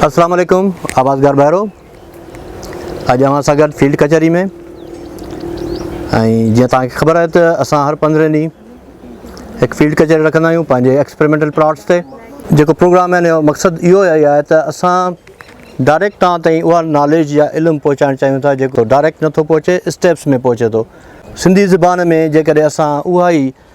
اسلام عليڪم آوازگار ڀائرو اڄ اوهان سان گڏ فيلڊ ڪچهري ۾ ۽ جيئن توهان کي خبر آهي ته اسان هر پندرهن ڏينهن هڪ فيلڊ ڪچهري رکندا آهيون پنهنجي ايڪسپيرمنٽل پلاٽس تي جيڪو پروگرام آهن جو مقصد اهو ئي آهي ته اسان ڊائريڪٽ توهان تائين اها ناليج يا علم پهچائڻ چاهيون ٿا جيڪو ڊائريڪٽ نٿو پهچي اسٽيپس ۾ پهچي ٿو سنڌي زبان ۾ جيڪڏهن اسان اها ئي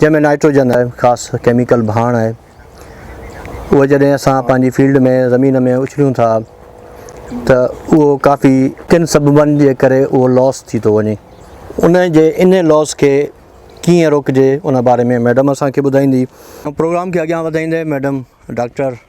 جنهن ۾ نائٽروجن آهي خاص ڪيميڪل ڀاڻ آهي اهو جڏهن اسان پنهنجي فيلڊ ۾ زمين ۾ اڇليون ٿا ته اهو ڪافي ڪن سببن جي ڪري اهو لاس ٿي ٿو وڃي ان جي ان لاس کي ڪيئن روڪجي ان باري ۾ ميڊم اسان کي ٻڌائيندي. پروگرام کي اڳيان وڌائيندي ميڊم ڊاڪٽر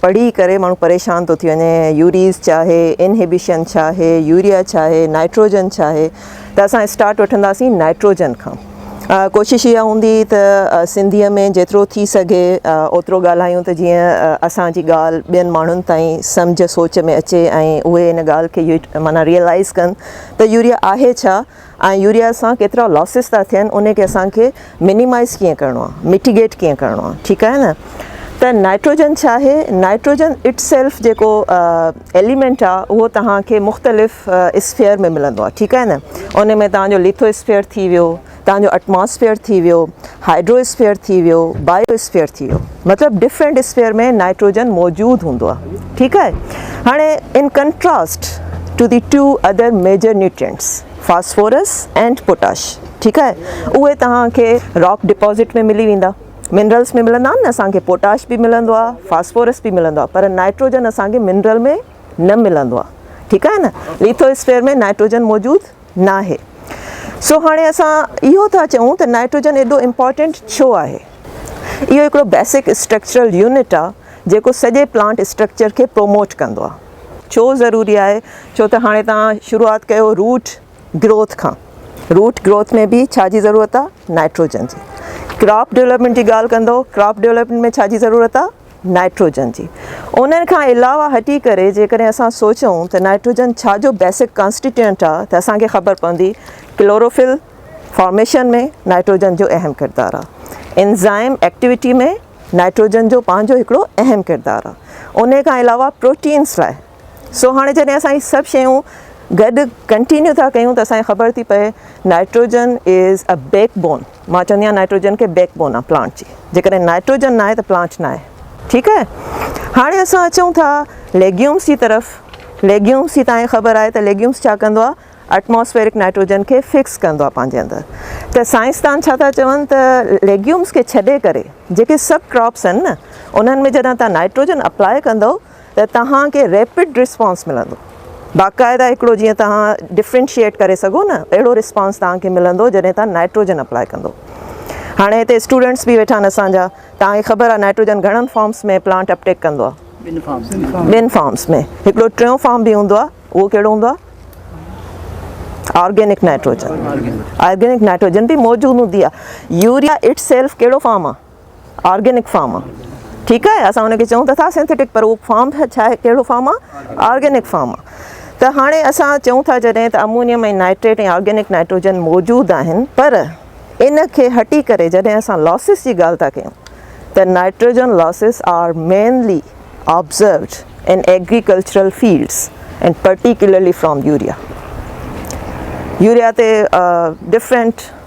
پڙهي ڪري ماڻهو پريشان ٿو ٿي وڃي يوريز ڇا آهي انهيبيشن ڇا آهي يوريا ڇا آهي نائٽروجن ڇا آهي ته اسان اسٽارٽ وٺنداسين نائٽروجن کان ڪوشش اها هوندي ته سنڌي ۾ جيترو ٿي سگهي اوترو ڳالهايون ته جيئن اسان جي ڳالهه ٻين ماڻهن تائين سمجهه سوچ ۾ اچي ۽ اهي ان ڳالهه کي معنيٰ ريئلائز ڪن ته يوريا آهي ڇا ۽ يوريا سان ڪيترا لاسز ٿا ٿين انهي کي اسان کي مينيمائز ڪيئن ڪرڻو آهي ميٽيگيٽ ڪيئن ڪرڻو آهي ٺيڪ آهي نه ته نائٽروجن ڇا آهي نائٽروجن اٽ سيلف جيڪو ايليمينٽ آهي اهو توهان کي مختلف اسفيئر ۾ ملندو آهي ٺيڪ آهي نه ان ۾ توهان جو ليٿو اسفيئر ٿي ويو توهان جو اٽماسفيئر ٿي ويو هائڊرو اسفيئر ٿي ويو بايو اسفيئر ٿي ويو مطلب ڊفرنٽ اسفيئر ۾ نائٽروجن موجود هوندو آهي ٺيڪ آهي هاڻي in contrast to the to other major nutrients phosphorus and potash ٺيڪ آهي اهي توهان کي راڪ ڊپوزٽ ۾ ملي ويندا منرلس ۾ ملندا آهن نه اسان کي پوٽاش به ملندو آهي فاسفورس به ملندو آهي پر نائٽروجن اسان کي منرل ۾ نه ملندو آهي ٺيڪ آهي نه ليٿو اسفيئر ۾ نائٽروجن موجود ناهي. سو هاڻي اسان اهو ٿا چئون ته نائٽروجن ايڏو امپارٽنٽ ڇو آهي؟ اهو هڪڙو بيسڪ اسٽرڪچرل يونٽ آهي جيڪو سڄي پلانٽ اسٽرڪچر کي پروموٽ ڪندو آهي. ڇو ضروري آهي؟ ڇو ته هاڻي توهان شروعات ڪيو روٽ گروٿ کان. روٽ گروٿ ۾ به ڇا جي ضرورت آهي؟ نائٽروجن جي. ڪراپ ڊولپمينٽ جي ڳالهه ڪندو، ڪراپ ڊولپمينٽ ۾ ڇا جي ضرورت آهي؟ نائٽروجن جي انهن کان علاوه هٽي ڪري جيڪڏهن اسان سوچون ته نائٽروجن ڇا جو بيسڪ ڪانسٽيٽيوئنٽ آهي ته اسان کي خبر پوندي ڪلوروفل فارميشن ۾ نائٽروجن جو اهم ڪردار آهي انزائم ايڪٽيوٽي ۾ نائٽروجن جو پنهنجو هڪڙو اهم ڪردار آهي انهي کان علاوه پروٽينس لاء سو هاڻي جڏهن اسان هي سڀ شيون گڏ ڪنٽينيو ٿا ڪيون ته اسان کي خبر ٿي پئي nitrogen is a backbone مان چوندي آهيان نائٽروجن کي بيڪ بون آهي پلانٽ جي جيڪڏهن نائٽروجن ناهي ته پلانٽ ناهي ٺيڪ آهي هاڻي اسان اچون ٿا ليگيومس جي طرف ليگيومس جي تاهي خبر آهي ته ليگيومس ڇا ڪندو آهي اٽماسفيرڪ نائٽروجن کي فڪس ڪندو آهي پنهنجي اندر ته سائنسدان ڇا ٿا چون ته ليگيومس کي ڇڏي ڪري جيڪي سڀ ڪراپس آهن نه انهن ۾ جڏهن تان نائٽروجن اپلاء ڪندو ته توهان کي ريپڊ رسپانس ملندو باقاعده هڪڙو جيئن توهان ڊفرينشيئيٽ ڪري سگهو نه اهڙو رسپانس توهان کي ملندو جڏهن توهان نائٽروجن اپلاء ڪندو هاڻي هتي اسٽوڊنٽس به ويٺا آهن اسان جا توهان کي خبر آهي نائٽروجن گهڻن فارمس ۾ پلانٽ اپٽيڪ ڪندو آهي ٻن فارمس ۾ هڪڙو ٽيون فارم به هوندو آهي اهو ڪهڙو هوندو آهي آرگينڪ نائٽروجن آرگينڪ نائٽروجن به موجود هوندي آهي يوريا اٽ سيلف ڪهڙو فارم آهي آرگينڪ فارم آ ٺيڪ آهي اسان ان کي چئون ته ٿا سينٿيٽڪ پر اهو فارم ڇا آهي ڪهڙو فارم آ آرگينڪ فارم آ ته هاڻي اسان چئون ٿا جڏهن ته امونيم ۽ نائٽريٽ ۽ آرگينڪ نائٽروجن موجود آهن پر ان کي هٽي ڪري جڏهن اسان لاسز جي ڳالهه ٿا ڪيون ته nitrogen losses are mainly observed in agricultural fields and particularly from urea urea تي ڊفرنٽ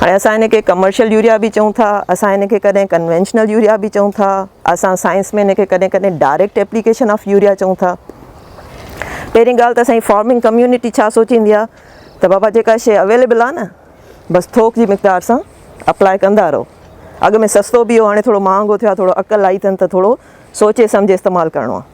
هاڻي اسان هن کي ڪمرشل يوريا به چئون ٿا، اسان هن کي ڪڏهن ڪنوينشنل يوريا به چئون ٿا، اسان سائنس ۾ هن کي ڪڏهن ڪڏهن ڊائريڪٽ ايپليڪيشن آف يوريا چئون ٿا. پهرين ڳالهه ته اسان جي فارمنگ ڪميونٽي ڇا سوچيندي آهي ته بابا جيڪا شيء اويليبل آهي نه بس ٿوڪ جي مقدار سان اپلائي ڪندا رهو. اڳ ۾ سستو به هو هاڻي ٿورو مهانگو ٿيو آهي ٿورو عقل آئي اٿن ته ٿورو سوچي سمجهي استعمال ڪرڻو آهي.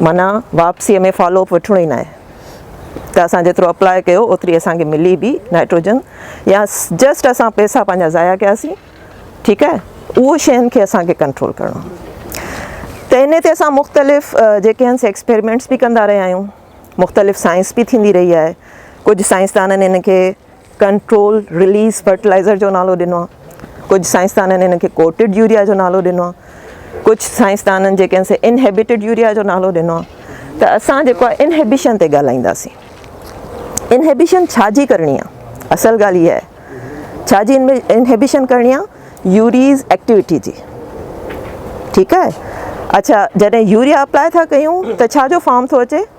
معنيٰ واپسيء ۾ فالو اپ وٺڻو ئي ناهي ته اسان جيترو اپلاء ڪيو اوتري اسان کي ملي به نائٽروجن يا جسٽ اسان پئسا پنهنجا ضايع ڪياسين ٺيڪ آهي اهو شين کي اسان کي ڪنٽرول ڪرڻو ته ان تي اسان مختلف جيڪي آهن سي ايڪسپيرمينٽس به ڪندا رهيا آهيون مختلف سائنس به ٿيندي رهي آهي ڪجهه سائنسدانن ان کي ڪنٽرول رليز فرٽلائيزر جو نالو ڏنو آهي. ڪجهه سائنسدانن ان کي ڪوٽڊ يوريا جو نالو ڏنو آهي. ڪجهه سائنسدانن جيڪي آهن سي انهيبٽيڊ يوريا جو نالو ڏنو آهي. ته اسان جيڪو آهي انهيبشن تي ڳالهائينداسين. انهيبشن ڇا جي ڪرڻي آهي؟ اصل ڳالهه اها آهي ڇا جي انهيبشن ڪرڻي آهي؟ يوريز ايڪٽيوٽي جي. ٺيڪ آهي. اڇا جڏهن يوريا اپلائي ٿا ڪيون ته ڇا جو فارم ٿو اچي؟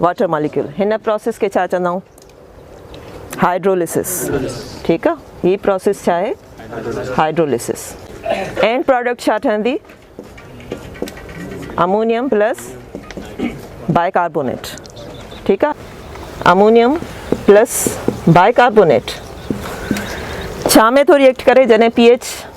واٽر ماليڪيول هن پروسيس کي ڇا چوندا آهيون هائيڊروليسس ٺيڪ آ هي پروسيس ڇا آهي هائيڊروليسس اينڊ پروڊڪٽ ڇا ٺهندي امونيم پلس بائي ڪاربونيٽ ٺيڪ آ امونيم پلس بائي ڪاربونيٽ ڇا ۾ ٿو ريئيڪٽ ڪري جڏهن پي ايچ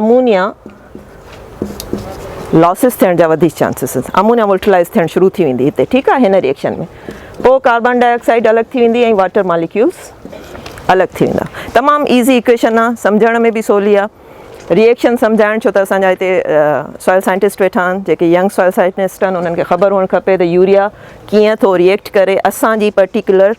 امونيا لاسز ٿيڻ جا وڌيڪ چانسز امونيا ولٽلائز ٿيڻ شروع ٿي ويندي هتي ٺيڪ آهي هن ريئڪشن ۾ پوء ڪاربان ڊاء آڪسائيڊ الڳ ٿي ويندي ۽ واٽر ماليڪيولز الڳ ٿي ويندا تمام ايزي اڪويشن آهي سمجهڻ ۾ به سولي آهي ريئڪشن سمجھائڻ ڇو ته اسان جا هتي سوائل سائنٽسٽ ويٺا آهن جيڪي ينگ سوائل سائنٽسٽ آهن انهن کي خبر هئڻ کپي ته يوريا ڪيئن ٿو ريئڪٽ ڪري اسان جي پرٽيڪولر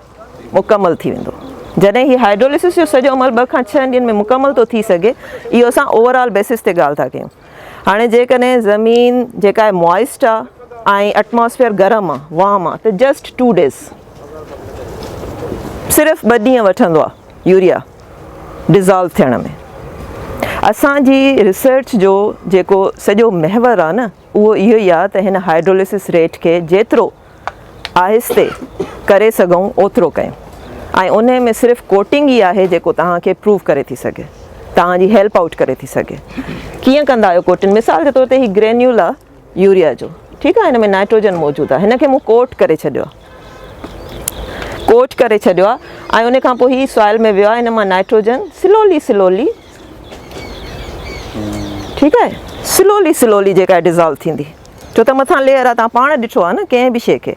مڪمل ٿي ويندو جڏهن هي هائيڊروليسس جو سڄو عمل ٻه کان ڇهن ڏينهن ۾ مڪمل ٿو ٿي سگهي اهو اسان اوور آل بيسس تي ڳالهه ٿا ڪيون هاڻي جيڪڏهن زمين جيڪا آهي موائسٽ آهي ۽ اٽماسفيئر گرم آهي وام آهي ته جسٽ ٽو ڊيز صرف ٻه ڏينهن وٺندو آهي يوريا ڊزالو ٿيڻ ۾ اسان جي ريسرچ جو جيڪو سڄو محور آهي نه اهو اهو ئي آهي ته هن هائيڊروليسس ريٽ کي جيترو آهستي ڪري سگهون اوترو ڪيون ۽ انهي ۾ صرف ڪوٽنگ ئي آهي جيڪو توهان کي پروف ڪري ٿي سگهي توهان جي هيلپ آئوٽ ڪري ٿي سگهي ڪيئن ڪندا آهيو ڪوٽنگ مثال جي طور تي هي گرينيول آهي يوريا جو ٺيڪ آهي هن ۾ نائٽروجن موجود آهي هن کي مون ڪوٽ ڪري ڇڏيو آهي ڪوٽ ڪري ڇڏيو آهي ۽ ان کان پوء هي سوائل ۾ ويو آهي هن مان نائٽروجن سلولي سلولي ٺيڪ آهي سلولي سلولي جيڪا ڊزالو ٿيندي ڇو ته مٿان ليئر آ توهان پاڻ ڏٺو آ نه ڪنهن به شي کي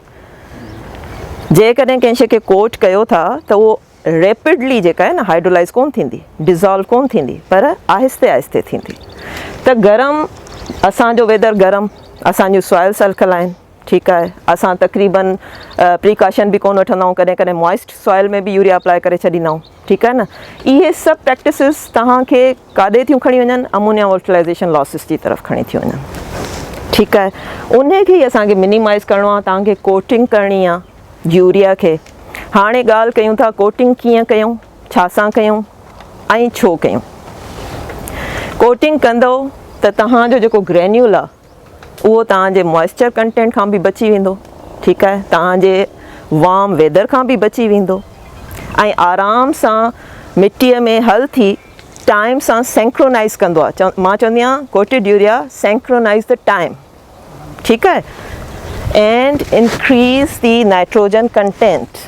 جيڪڏهن ڪنهن شي کي ڪوٽ ڪيو ٿا ته اهو ريپڊلي جيڪا آهي نه هائيڊرولائز ڪون ٿيندي ڊزالو ڪون ٿيندي پر آهستي آهستي ٿيندي ته گرم اسان جو ويدر گرم اسان جون سوائلس الکلائن ٺيڪ آهي اسان تقريبن پريڪاشن به ڪون وٺندا آهيون ڪڏهن ڪڏهن موائسٽ سوائل ۾ به يوريا اپلائي ڪري ڇڏيندا آهيون ٺيڪ آهي نه اهي سڀ پريڪٽسز توهان کي ڪاڏي ٿيون کڻي وڃن امونيا والٽلائيزيشن لاسز جي طرف کڻي ٿيون وڃن ٺيڪ آهي ان کي ئي اسان کي منيمائز ڪرڻو آهي توهان کي ڪوٽنگ ڪرڻي آهي يوريا کي هاڻي ڳالهه ڪيون ٿا ڪوٽنگ ڪيئن ڪيون ڇا سان ڪيون ۽ ڇو ڪيون ڪوٽنگ ڪندو ته توهان جو جيڪو گرينيول آهي اهو توهان جي موئسچر ڪنٽينٽ کان به بچي ويندو ٺيڪ آهي توهان جي وارم ويدر کان به بچي ويندو ۽ آرام سان مٽي ۾ حل ٿي ٽائيم سان سينڪرونائز ڪندو آهي مان چوندي آهيان ڪوٽيڊ يوريا سينڪرونائز ته ٽائيم ٺيڪ آهي and increase the nitrogen content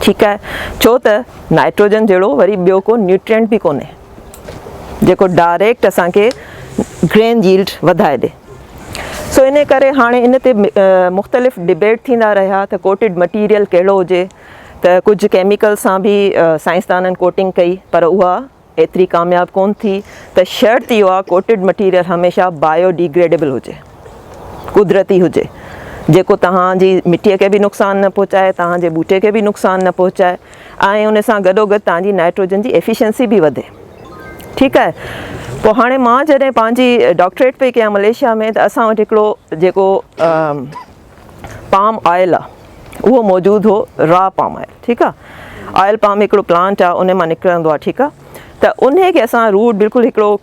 ٺيڪ آهي ڇو ته نائٽروجن جهڙو وري ٻيو ڪو نيوٽرينٽ به ڪونهي جيڪو ڊائريڪٽ اسان کي گرين جيلڊ وڌائي ڏي سو ان ڪري هاڻي ان تي مختلف ڊبيٽ ٿيندا رهيا ته ڪوٽيڊ مٽيريل ڪهڙو هجي ته ڪجهه ڪيميڪل سان به سائنسدانن ڪوٽنگ ڪئي پر اها ايتري ڪامياب ڪونه ٿي ته شرط اهو آهي ڪوٽيڊ مٽيريل هميشه بايو ڊي گريڊيبل هجي، قدرتي هجي، جيڪو توهان جي مٽي کي به نقصان نه پهچائي، توهان جي ٻوٽي کي به نقصان نه پهچائي ۽ ان سان گڏوگڏ توهان جي نائٽروجن جي ايفيشنسي به وڌي. ٺيڪ آهي پوء هاڻي مان جڏهن پنهنجي ڊاڪٽريٽ پئي ڪيان ملائيشيا ۾ ته اسان وٽ هڪڙو جيڪو پام آئل آ اهو موجود هو را پام آئل ٺيڪ آ آئل پام هڪڙو پلانٽ آ ان مان نڪرندو آ ٺيڪ آ ته انهي کي اسان روٽ بلڪل هڪڙو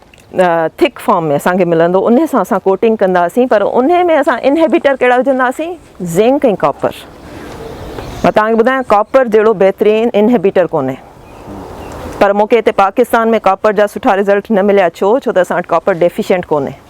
ٿڪ فارم ۾ اسان کي ملندو انهي سان اسان ڪوٽنگ ڪنداسين پر انهي ۾ اسان انهيبيٽر ڪهڙا وجهنداسين زنڪ ۽ ڪاپر مان توهان کي ٻڌايان ڪاپر جهڙو بهترين انهيبيٽر ڪونهي پر مونکي هتي پاڪستان ۾ ڪاپر جا سٺا رزلٽ نه مليا ڇو ڇو ته اسان وٽ ڪاپر ڊيفيشنٽ ڪونهي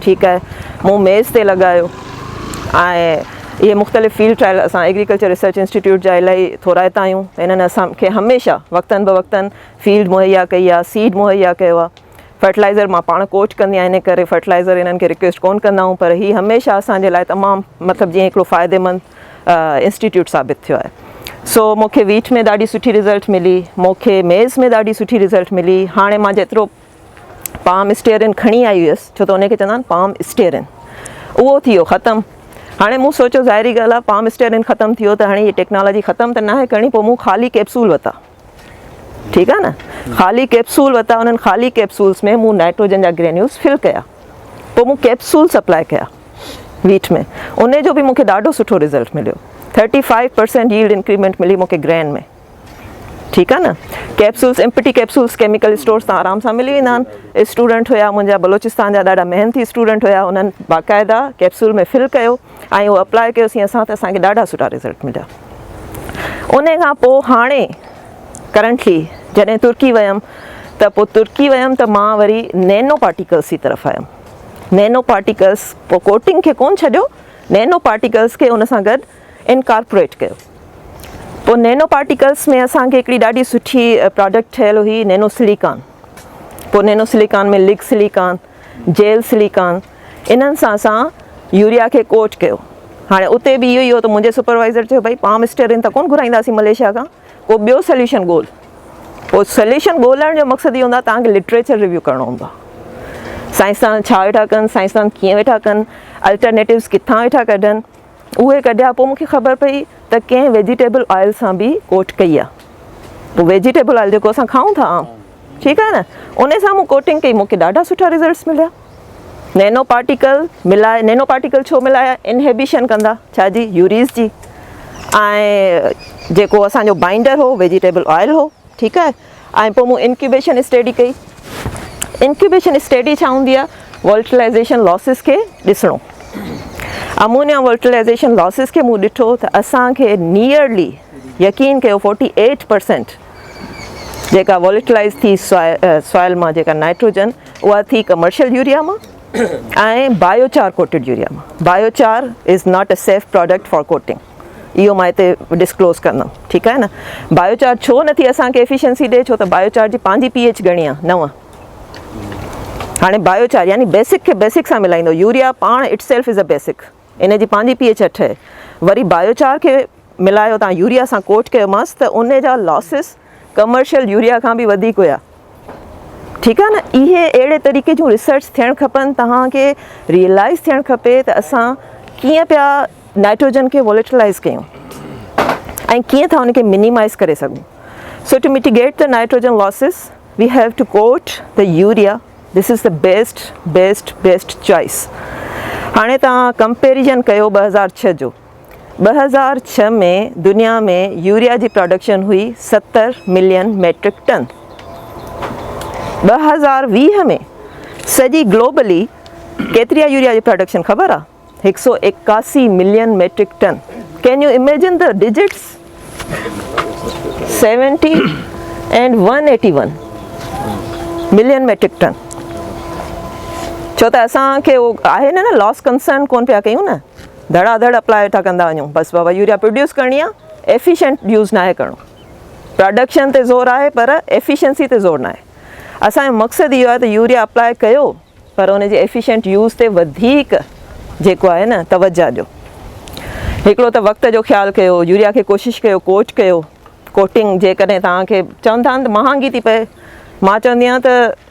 ٺيڪ آهي مون ميز تي لڳايو ۽ اهي مختلف فيلڊ ٽرائل اسان ايگريڪلچر ريسرچ انسٽيٽيوٽ جا الاهي ٿورائتا آهيون ته انهن اسان کي هميشه وقتن بوقتن فيلڊ مهيا ڪئي آهي سيڊ مهيا ڪيو آهي فرٽلائزر مان پاڻ ڪوچ ڪندي آهيان ان ڪري فرٽلائزر انهن کي رڪويسٽ ڪون ڪندا آهيون پر هي هميشه اسان جي لاء تمام مطلب جيئن هڪڙو فائدي مند انسٽيٽيوٽ ثابت ٿيو آهي سو مون کي ويٽ ۾ ڏاڍي سٺي رزلٽ ملي مون کي ميز ۾ ڏاڍي سٺي رزلٽ ملي هاڻي مان جيترو پام اسٽيئرن کڻي آئي هيس، ڇو ته انهي کي چوندا آهن پام اسٽيئرن. اهو ٿي ويو ختم. هاڻي مون سوچيو ظاهري ڳالهه آهي پام اسٽيئرن ختم ٿي ويو ته هاڻي هي ٽيڪنالاجي ختم ته ناهي ڪرڻي پوء مون خالي ڪيپسول وتا. ٺيڪ آهي نه. خالي ڪيپسول وتا انهن خالي ڪيپسولس ۾ مون نائٽروجن جا گرينيولس فل ڪيا. پوء مون ڪيپسول سپلاء ڪيا ويٽ ۾. انهي جو به مون کي ڏاڍو سٺو رزلٽ مليو. Thirty five percent yield increment ملي مون کي گرين ۾. ٺيڪ آ نه capsules empty capsules chemical stores تان آرام سان ملي ويندا آھن اسٽوڊنٽ ھيا منھنجا بلوچستان جا ڏاڍا محنتي اسٽوڊنٽ ھيا انھن باقاعده ڪيپسول ۾ فل ڪيو ۽ اھو اپلاء ڪيو سين اسان ته اسان کي ڏاڍا سٺا رزلٽ مليا ان کان پوء ھاڻي ڪرنٽلي جڏھن ترڪي ويم ته پوء ترڪي ويم ته مان وري نينو پارٽيڪلس جي طرف آيم نينو پارٽيڪلس پوء ڪوٽنگ کي ڪون ڇڏيو نينو پارٽيڪلس کي ان سان گڏ انڪارپوريٽ ڪيو پوء نينو پارٽيڪلس ۾ اسان کي هڪڙي ڏاڍي سٺي پراڊڪٽ ٺهيل هئي نينو سليڪان پوء نينو سليڪان ۾ لگ سليڪان جيل سليڪان انهن سان اسان يوريا کي ڪوٽ ڪيو هاڻي اتي به اهو ئي هو ته منهنجي سپروائزر چيو ڀئي پام اسٽيرن ته ڪونه گهرائينداسين مليشيا کان ڪو ٻيو سليوشن ڳول پوء سليوشن ڳولڻ جو مقصد اهو هوندو آهي توهان کي لٽريچر ريويو ڪرڻو هوندو آهي سائنسدان ڇا ويٺا ڪن سائنسدان ڪيئن ويٺا ڪن الٽرنيٽوز ڪٿان ويٺا ڪڍن اهي ڪڍيا پوء مون کي خبر پئي ته ڪنهن ويجيٽيبل آئل سان به ڪوٽ ڪئي آهي پوء ويجيٽيبل آئل جيڪو اسان کائون ٿا عام ٺيڪ آهي نه ان سان مون ڪوٽنگ ڪئي مون کي ڏاڍا سٺا ريزلٽس مليا نينو پارٽيڪل ملائي نينو پارٽيڪل ڇو ملايا انهيبيشن ڪندا ڇا جي يوريز جي ۽ جيڪو اسانجو بائنڊر هو ويجيٽيبل آئل هو ٺيڪ آهي ۽ پوء مون انڪيوبيشن اسٽيڊي ڪئي. انڪيوبيشن اسٽيڊي ڇا هوندي آهي؟ ولٽلائيزيشن لاسز کي ڏسڻو. امونيا ولٽلائيزيشن لاسز کي مون ڏٺو ته اسان کي نيئرلي يقين ڪيو فورٽي ايٽ پرسينٽ جيڪا ولٽلائيز ٿي سوائل مان جيڪا نائٽروجن اها ٿي ڪمرشل يوريا مان ۽ بايو چار ڪوٽيڊ يوريا مان. Biochar is not a safe product for coating. اهو مان هتي ڊسڪلوز ڪندم ٺيڪ آهي نه بايو چارٽ ڇو نٿي اسان کي ايفيشنسي ڏي ڇو ته بايو چارٽ جي پنهنجي پي ايچ گهڻي آهي نو هاڻي بايو چارٽ يعني بيسڪ کي بيسڪ سان ملائيندو يوريا پاڻ itself is a basic ان جي پنهنجي پي ايچ اٺ آهي وري بايو چارٽ کي ملايو تان يوريا سان ڪوٽ ڪيومانس ته ان جا لاسز ڪمرشل يوريا کان به وڌيڪ هيا ٺيڪ آهي نه اهي اهڙي طريقي جون ريسرچ ٿيڻ کپن توهان کي ريئلائز ٿيڻ کپي ته اسان ڪيئن پيا نائٽروجن کي ووليٽلائز ڪيون ۽ ڪيئن ٿا ان کي منيمائز ڪري سگهون سو ٽو ميٽيگيٽ ته nitrogen losses we have to quote ته يوريا دس از ته بيسٽ بيسٽ بيسٽ چوائس هاڻي تان ڪمپيريزن ڪيو ٻه هزار ڇهه جو ٻه هزار ڇهه ۾ دنيا ۾ يوريا جي پراڊڪشن هئي ستر ملين ميٽرڪ ٽن، ٻه هزار ويهه ۾ سڄي گلوبلي ڪيتري آهي يوريا جي پراڊڪشن خبر آهي؟ هڪ سؤ ايڪاسي million metric ton, can you imagine the digits? Seventy and one eighty one million metric ton, ڇو ته اسان کي اهو آهي نه لاس ڪنسرن ڪون پيا ڪيون نه. ڌڙا ڌڙ اپلاء ويٺا ڪندا وڃون بس بابا يوريا پروڊيوس ڪرڻي آ ايفيشنٽ يوز ناهي ڪرڻو پراڊڪشن تي زور آهي پر ايفيشنسي تي زور ناهي اسان جو مقصد اهو آهي ته يوريا اپلاء ڪيو پر ان جي ايفيشنٽ يوز تي وڌيڪ جيڪو آهي نه توجه ڏيو هڪڙو ته وقت جو خيال ڪيو يوريا کي ڪوشش ڪيو ڪوٽ ڪيو ڪوٽنگ جيڪڏهن توهان کي چون ٿا ته مهانگي ٿي پئي مان چوندي آهيان ته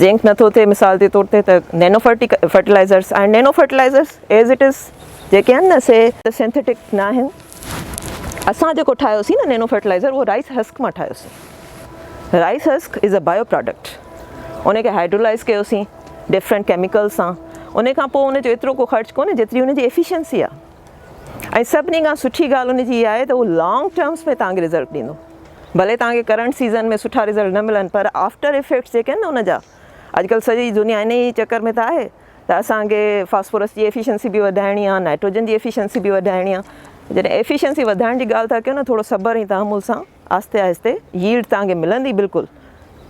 زنڪ نه ٿو ٿئي مثال جي طور تي ته نينو فرٽيلائزرس آهن nano fertilizers as it is جيڪي آهن نه سي سنٿيٽڪ نه آهن اسان جيڪو ٺاهيوسين نه نينو فرٽيلائزر اهو رائس هسڪ مان ٺاهيوسين rice husk is a byproduct ان کي هائڊرولائز ڪيوسين ڊفرنٽ ڪيميڪل سان ان کان پوء ان جو ايترو ڪو خرچ ڪونهي جيتري ان جي ايفيشنسي آهي ۽ سڀني کان سٺي ڳالهه ان جي اها آهي ته اهو لانگ ٽرمس ۾ توهان کي رزلٽ ڏيندو ڀلي توهان کي ڪرنٽ سيزن ۾ سٺا رزلٽ نه ملن پر آفٽر افيڪٽس جيڪي آهن نه ان جا اڄڪلهه سڄي دنيا ان ئي چڪر ۾ ته آهي ته اسان کي فاسفورس جي ايفيشنسي به وڌائڻي آهي نائٽروجن جي ايفيشنسي به وڌائڻي آهي جڏهن ايفيشنسي وڌائڻ جي ڳالهه ٿا ڪيو نه ٿورو صبر ۽ تحمل سان آهستي آهستي ييلڊ توهان کي ملندي بلڪل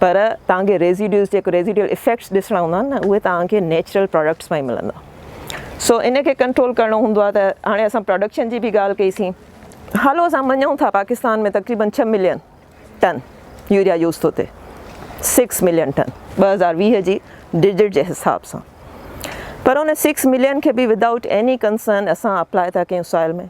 پر توهان کي ريزيڊيوز جيڪو ريزيڊيل افيڪٽس ڏسڻا هوندا آهن نه اهي توهان کي نيچرل پراڊڪٽس مان ئي ملندا سو ان کي ڪنٽرول ڪرڻو هوندو آهي ته هاڻي اسان پراڊڪشن جي به ڳالهه ڪئي سين هلو اسان مڃون ٿا پاڪستان ۾ تقريبن ڇهه ملين ٽن يوريا يوز ٿو ٿئي سڪس ملين ٽن ٻه هزار ويهه جي ڊجٽ جي حساب سان پر ان سڪس ملين کي به ودائوٽ ايني ڪنسرن اسان اپلائي ٿا ڪيون سوائل ۾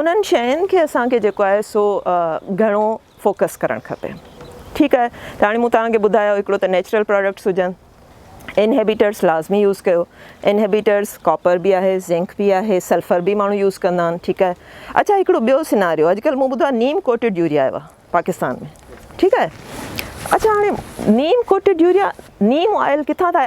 انهن شين کي اسان کي جيڪو آهي سو گهڻو فوڪس ڪرڻ کپي ٺيڪ آهي ته هاڻي مون توهان کي ٻڌايو هڪڙو ته نيچرل پراڊڪٽس هجن انهيبيٽرس لازمي يوز ڪيو انهيبيٽرس ڪاپر به آهي زنڪ به آهي سلفر به ماڻهو يوز ڪندا آهن ٺيڪ آهي اڇا هڪڙو ٻيو سيناريو اڄ ڪلهه مون ٻڌو آهي نيم ڪوٽيڊ يوريا آيو آهي پاڪستان ۾ ٺيڪ آهي اڇا هاڻي neem coated urea neem oil ڪٿان ٿا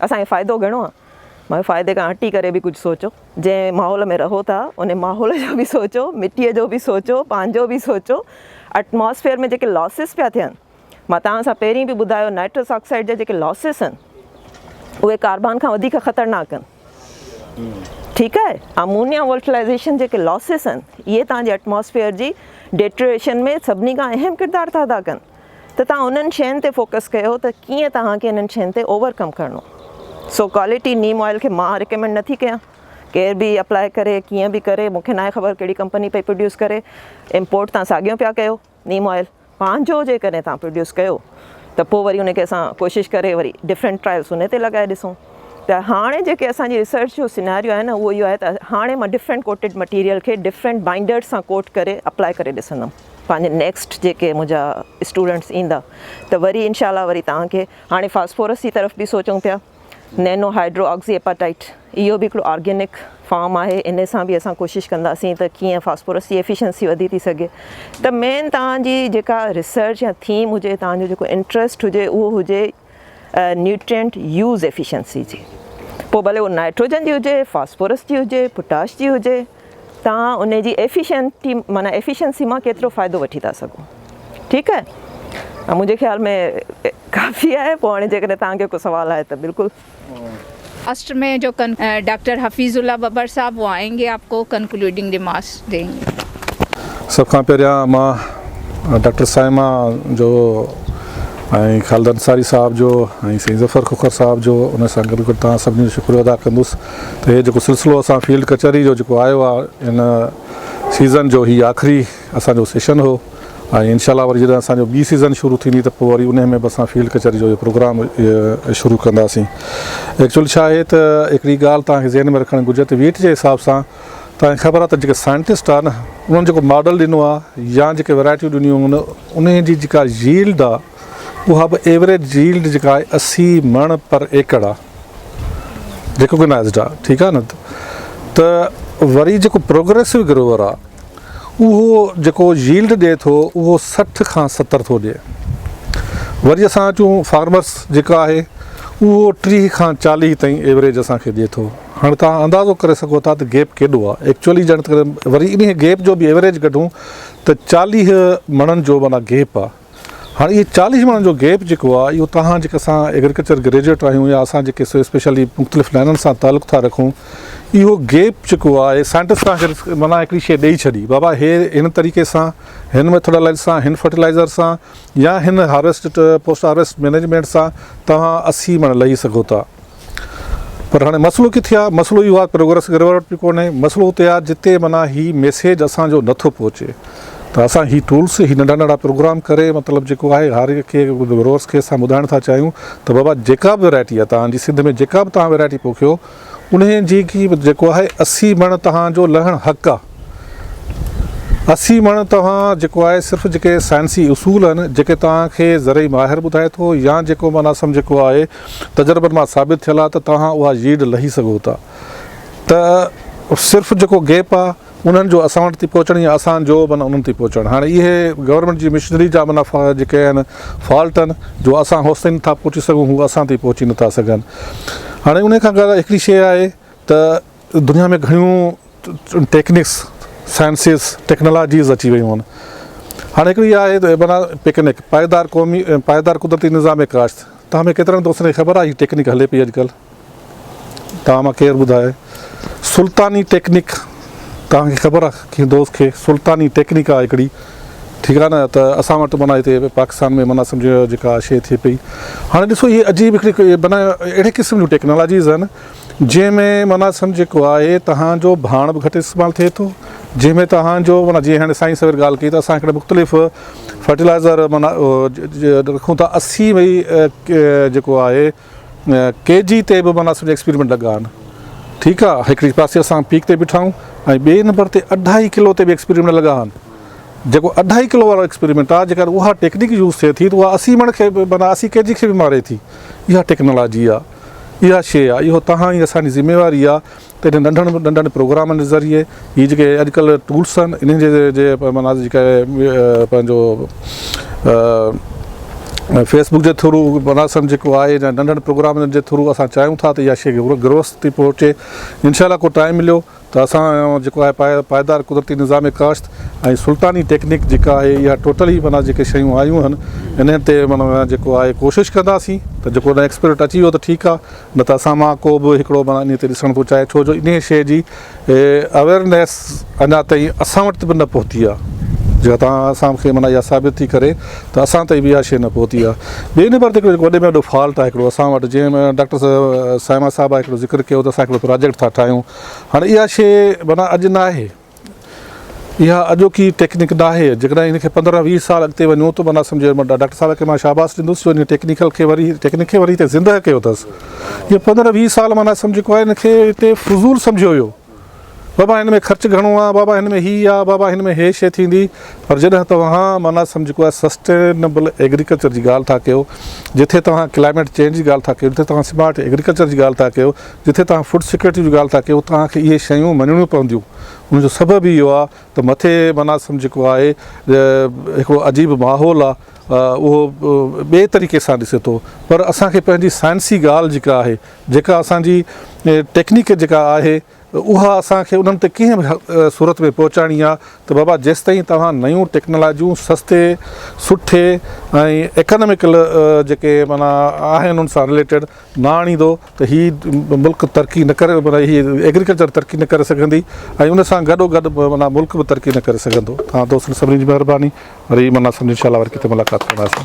اسان کي فائدو گهڻو آ مگر فائدي کان هٽي ڪري به ڪجهه سوچو جنهن ماحول ۾ رهو ٿا ان ماحول جو به سوچو مٽي جو به سوچو پنهنجو به سوچو اٽماسفيئر ۾ جيڪي لاسز پيا ٿين مان توهان سان پهرين به ٻڌايو نائٽرس آڪسائيڊ جا جيڪي لاسز آهن اهي ڪاربان کان وڌيڪ خطرناڪ آهن ٺيڪ آهي امونيا ولٽلائزيشن جيڪي لاسز آهن اهي توهان جي اٽماسفيئر جي ڊيٽريشن ۾ سڀني کان اهم ڪردار ٿا ادا ڪن ته توهان انهن شين تي فوڪس ڪيو ته ڪيئن توهان کي انهن شين تي اوور ڪم ڪرڻو سو ڪوالٽي نيم آئل کي مان ريڪمينڊ نه ٿي ڪيان ڪير به اپلاء ڪري ڪيئن به ڪري مونکي ناهي خبر ڪهڙي ڪمپني پئي پروڊيوس ڪري امپورٽ توهان ساڳيو پيا ڪيو نيم آئل پنهنجو جيڪڏهن توهان پروڊيوس ڪيو ته پوء وري ان کي اسان ڪوشش ڪري وري ڊفرنٽ ٽرائلس ان تي لڳائي ڏسون ته هاڻي جيڪي اسان جي ريسرچ جو سيناريو آهي نه اهو اهو آهي ته هاڻي مان ڊفرنٽ ڪوٽيڊ مٽيريل کي ڊفرنٽ بائنڊرز سان ڪوٽ ڪري اپلاء ڪري ڏسندم. پنهنجي نيڪسٽ جيڪي منهنجا اسٽوڊنٽس ايندا ته وري انشاء الله وري توهان کي هاڻي فاسفورس جي طرف به سوچون پيا نينو هائيڊرو آڪسي ايپاٽائيٽ اهو به هڪڙو آرگينڪ فارم آهي ان سان به اسان ڪوشش ڪنداسين ته ڪيئن فاسفورس جي ايفيشنسي وڌي ٿي سگهي ته مين توهان جي جيڪا ريسرچ يا ٿيم هجي توهان جو جيڪو انٽرسٽ هجي اهو هجي نيوٽرينٽ يوز ايفيشنسي جي پوء ڀلي اهو نائٽروجن جي هجي، فاسفورس جي هجي، پوٽاش جي هجي توهان ان جي ايفيشنٽي معنيٰ ايفيشنسي مان ڪيترو فائدو وٺي ٿا سگهو ٺيڪ آهي منهنجي خيال ۾ ڪافي آهي پوء هاڻي جيڪڏهن توهان کي ڪو سوال آهي ته بلڪل. اسٽ ۾ جو ڪن ڊاڪٽر حفيظ الله ٻٻر صاحب وو آئين گي آپ ڪو ڪنڪلوڊنگ ريمارڪس ڏين گي. سڀ کان پهريان مان ڊاڪٽر صائمه جو ۽ خالد انصاري صاحب جو ۽ سائين ظفر کوکر صاحب جو ان سان گڏ گڏ توهان سڀني جو شڪريو ادا ڪندس ته هي جيڪو سلسلو اسان فيلڊ ڪچهري جو جيڪو آيو آهي ان سيزن جو هي آخري اسان جو سيشن هو ۽ انشاء الله وري جڏهن اسان جو ٻي سيزن شروع ٿيندي ته پوء وري انهي ۾ به اسان فيلڊ ڪچهري جو اهي پروگرام شروع ڪنداسين ايڪچوئل ڇا آهي ته هڪڙي ڳالهه توهان کي ذهن ۾ رکڻ گهرجي ته ويٽ جي حساب سان توهان کي خبر آهي ته جيڪي سائنٽسٽ آهي نه انهن جيڪو ماڊل ڏنو آهي يا جيڪي ويرائٽيون ڏنيون آهن انهي جي جيڪا ييلڊ آهي اها به ايوريج ييلڊ جيڪا آهي اسي مڻ پر ايڪڙ آهي ريڪوگنائزڊ آهي ٺيڪ آهي نه ته وري جيڪو پروگريسو گروور آهي اهو جيڪو ييلڊ ڏئي ٿو اهو سٺ کان ستر ٿو ڏئي وري اسان اچون فارمرس جيڪا آهي اهو ٽيهه کان چاليهه تائين ايوريج اسان کي ڏئي ٿو هاڻي توهان اندازو ڪري سگهو ٿا ته گيپ ڪيڏو آهي ايڪچوئلي جڏهن وري انهي گيپ جو به ايوريج ڪڍون ته چاليهه مڻن جو معنيٰ گيپ آهي هاڻ اهي چاليهه ماڻهن جو گيپ جيڪو آهي اهو توهان جيڪي اسان ايگريڪلچر گريجوئيٽ آهيون يا اسان جيڪي اسپيشلي مختلف لائنن سان تعلق ٿا رکون اهو گيپ جيڪو آهي سائنٽسٽ تان ڪري معنيٰ هڪڙي شيء ڏئي ڇڏي بابا هي هن طريقي سان هن ميٿوڊالائيز سان هن فرٽيلائيزر سان يا هن هارويسٽ پوسٽ هارويسٽ مينيجمينٽ سان توهان اسي مڻ لهي سگهو ٿا پر هاڻي مسئلو ڪٿي آ؟ مسئلو اهو آ پروگريس گريوارڊ به ڪونهي. مسئلو اتي آ جتي معنيٰ هي ميسيج اسان جو نه ٿو پهچي ته اسان هي ٽولس هي ننڍا ننڍا پروگرام ڪري مطلب جيڪو آهي هر هڪ کي گروورس کي اسان ٻڌائڻ ٿا چاهيون ته بابا جيڪا به ورائٽي آ توهان جي سنڌ ۾ جيڪا به توهان ورائٽي پوکيو انهي جي ڪي جيڪو آهي اسي مڻ توهان جو لهڻ حق آ اسي مڻ توهان جيڪو آهي صرف جيڪي سائنسي اصول آهن جيڪي توهان کي زرعي ماهر ٻڌائي ٿو يا جيڪو معنيٰ سمجهه ڪو آهي تجربن مان ثابت ٿيل آ ته توهان اها ييلڊ لهي سگهو ٿا ته صرف جيڪو گيپ آ انهن جو اسان وٽ ٿي پهچڻ يا اسان جو معنيٰ انهن ٿي پهچڻ هاڻي اهي گورنمينٽ جي مشنري جا معنيٰ جيڪي آهن فالٽ آهن جو اسان هوستائين نٿا پهچي سگهون هو اسان تائين پهچي نٿا سگهن هاڻي انهي کان گهر هڪڙي شي آهي ته دنيا ۾ گهڻيون ٽيڪنڪس سائنسز ٽيڪنالاجيز اچي ويون آهن هاڻي هڪڙي اها آهي ته معنيٰ پيڪنڪ پائيدار قومي پائيدار قدرتي نظام ڪاشت تهان ۾ ڪيترن دوستن کي خبر آهي هي ٽيڪنڪ هلي پئي اڄڪلهه تهان مان ڪير ٻڌائي سلطاني ٽيڪنڪ تهان کي خبر آهي ڪنهن دوست کي سلطاني ٽيڪنڪ آهي هڪڙي ٺيڪ آهي نه ته اسان وٽ معنيٰ هتي پاڪستان ۾ معنيٰ سمجهو جيڪا شي ٿئي پئي هاڻي ڏسو هي عجيب هڪڙي معنيٰ اهڙي قسم جون ٽيڪنالاجيز آهن جنهن ۾ معنيٰ سمجهه جيڪو آهي تهان جو ڀاڻ به گهٽ استعمال ٿئي ٿو جنهن ۾ تهان جو معنيٰ جيئن هاڻي سائين سوير ڳالهه ڪئي ته اسان هڪڙي مختلف فرٽيلائزر معنيٰ رکون ٿا اسي وئي جيڪو آهي ڪي جي تي به معنيٰ سمجهه ايڪسپيريمنٽ لڳا آهن ٺيڪ آهي هڪڙي پاسي اسان پيڪ تي بيٺا آهيون ۽ ٻئي نمبر تي اڍائي ڪلو تي به ايڪسپيريمنٽ لڳا آهن جيڪو اڍائي ڪلو وارو ايڪسپيريمنٽ آهي جيڪڏهن اها ٽيڪنيڪ يوز ٿئي ٿي ته اها اسي مڻ کي به معنيٰ اسي ڪي جي کي به ماري ٿي اها ٽيڪنالاجي آهي اها شيء آ، اهو توهان ۽ اسان جي ذميواري آ ته انهن ننڍن ننڍن پروگرامن جي ذريعي هي جيڪي اڄڪلهه ٽولس آهن انهن جي جي معنيٰ جيڪي پنهنجو فيس بڪ جي ٿرو معنيٰ سمجهه جيڪو آهي ننڍن پروگرامن جي ٿرو اسان چاهيون ٿا ته اها شيء گروس تي پهچي انشاء الله ڪو ٽائيم مليو ته اسان جو جيڪو آهي پائيدار قدرتي نظام ڪاشت ۽ سلطاني ٽيڪنڪ جيڪا آهي اها ٽوٽل ئي معنيٰ جيڪي شيون آيون آهن انهن تي معنيٰ جيڪو آهي ڪوشش ڪنداسين ته جيڪو نه ايڪسپرٽ اچي ويو ته ٺيڪ آهي نه ته اسان مان ڪو به هڪڙو معنيٰ انهي تي ڏسڻ ٿو چاهي ڇو جو انهي شيء جي اويرنيس اڃا تائين اسان وٽ به نه پهتي آهي جيڪا توهان اسان کي معنيٰ اها ثابت ٿي ڪري ته اسان تائين به اها شيء نه پهتي آهي ٻئي نمبر تي هڪڙو وڏي ۾ وڏو فالٽ آهي هڪڙو اسان وٽ جنهن ۾ ڊاڪٽر صائمه صاحب هڪڙو ذڪر ڪيو ته اسان هڪڙو پراجيڪٽ ٿا ٺاهيون هاڻي اها شيء معنيٰ اڄ ناهي. اها اڄوڪي ٽيڪنڪ ناهي. جيڪڏهن ان کي پندرهن ويهه سال اڳتي وڃون ته معنيٰ سمجهي وڃبو. ڊاڪٽر صاحب کي مان شاباس ڏيندس جو هن ٽيڪنيڪل کي وري ٽيڪنڪ کي وري هتي زندهه ڪيو اٿس. اهي پندرهن ويهه سال معنيٰ سمجهه جيڪو آهي ان کي هتي فضول سمجهيو ويو. بابا هن ۾ خرچ گهڻو آهي، بابا هن ۾ هي آهي، بابا هن ۾ هي شيء ٿيندي. پر جڏهن توهان معنيٰ سمجهه جيڪو آهي سسٽينبل ايگريڪلچر جي ڳالهه ٿا ڪيو، جتي توهان ڪلائميٽ چينج جي ڳالهه ٿا ڪيو، جتي توهان سمارٽ ايگريڪلچر جي ڳالهه ٿا ڪيو، جتي توهان فوڊ سيڪيورٽي جي ڳالهه ٿا ڪيو توهان کي اهي شيون مڃڻيون پونديون ان جو سبب اهو آهي ته مٿي مناسم جيڪو آهي هڪڙو عجيب ماحول آهي اهو ٻئي طريقي سان ڏسي ٿو پر اسان کي پنهنجي سائنسي ڳالهه جيڪا آهي جيڪا اسان جي ٽيڪنيڪ جيڪا آهي اها اسان کي انهن تي ڪنهن به صورت ۾ پهچائڻي آهي ته بابا جيستائين توهان نيون ٽيڪنالاجيون سستي سٺي ۽ ايڪاناميڪل جيڪي معنيٰ آهن ان سان رليٽيڊ نه آڻيندو ته هي ملڪ ترقي نه ڪري معنيٰ هي ايگريڪلچر ترقي نه ڪري سگهندي ۽ ان سان گڏو گڏ معنيٰ ملڪ به ترقي نه ڪري سگهندو تان دوستن سڀني جي مهرباني وري معنيٰ سمجهه انشاء الله وري ڪٿي ملاقات ڪنداسين.